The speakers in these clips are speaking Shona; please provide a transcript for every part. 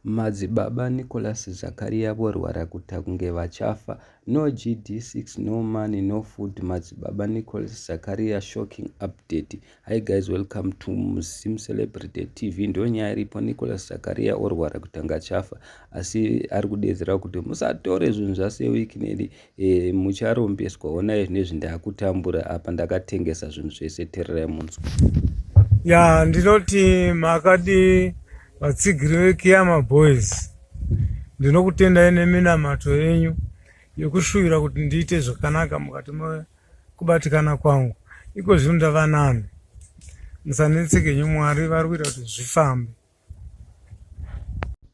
Madzibaba Nicholas Zakaria vorwara kuta kunge vachafa. No GD6, no money, no food. Madzibaba Nicholas Zakaria shocking update. Hi guys, welcome to Musim Celebrity TV. Ndo nyaya iripo Nicholas Zakaria orwara kutanga chafa. Asi ari kudedzera kuti musatore zvinhu zvase week nedi E, mucharombeswa honai zvinezvi ndakutambura apa ndakatengesa zvinhu zvese tererai munzwa ya ndinoti makadi vatsigiri vekiyama boys ndinokutendai neminamato yenyu yekushuvira kuti ndiite zvakanaka mukati mekubatikana kwangu iko zvino ndava nani musanetseke nyu mwari vari kuita kuti zvifambe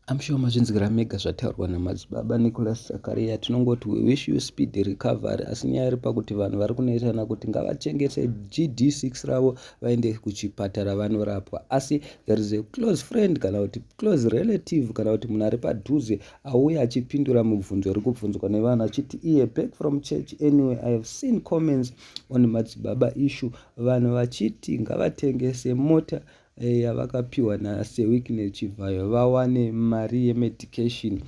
I'm sure mazvinzwira mega zvataurwa namadzibaba Nicholas Zakaria. Tinongoti we wish you speed recovery, asi nyaya iri pakuti vanhu vari kunetsana kuti ngavachengete GD6 ravo vaende kuchipatara vanorapwa, asi there is a close friend kana kuti close relative kana kuti munhu ari padhuze auya achipindura mubvunzo uri kubvunzwa nevanhu achiti iye back from church anyway I have seen comments on madzibaba issue vanhu vachiti ngavatengese mota eh, yavakapiwa naSir Wicknell Chivhayo vawane mari yemedication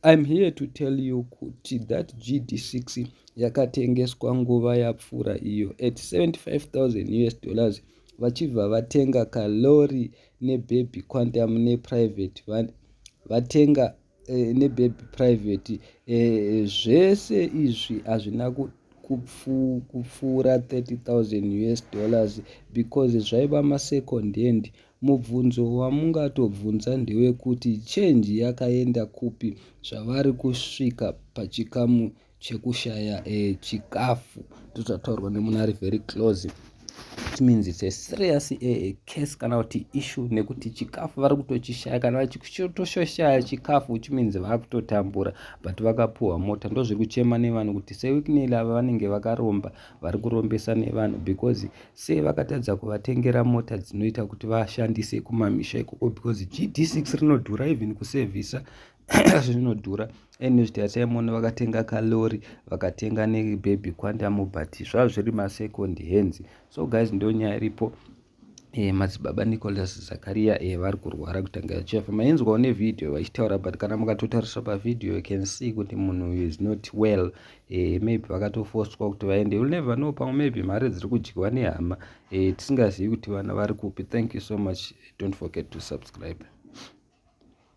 I'm here to tell you kuti that GD6 yakatengeswa nguva yapfuura iyo at 75000 us dollars vachibva vatenga kalori nebaby quantum neprivate van vatenga eh, nebaby private eh, zvese izvi hazvina kupfuura 30000 us dollars because zvaiva masecond hand mubvunzo wamungatobvunza ndewekuti change yakaenda kupi zvavari kusvika pachikamu chekushaya eh, chikafu tototaurwa nemuna ari very close it means it's a serious a, eh, a case kana kuti issue nekuti chikafu vari kutochishaya kana vachitoshaya chikafu which means vari kutotambura but vakapuhwa mota ndo zviri kuchema nevanhu kuti sewikinel ava vanenge vakaromba vari kurombesa nevanhu because sei vakatadza kuvatengera mota dzinoita kuti vashandise kumamisha ikoko because gd6 rinodhura even kusevhisa zvinodhura ene zvitaya chaimona vakatenga kalori vakatenga nebaby quantum but zvava zviri masecond hands so guys ndo nyaya iripo E, madzibaba nicolas zakaria e, eh, vari kurwara kutanga yachefa mainzwawo nevhidhiyo vachitaura but kana mukatotarisa pavhidhiyo you can see kuti munhu uyu is not well e, maybe vakatofoswa kuti vaende youll never know pamwe maybe mari dziri kudyiwa nehama e, tisingazivi kuti vana vari kupi thank you so much don't forget to subscribe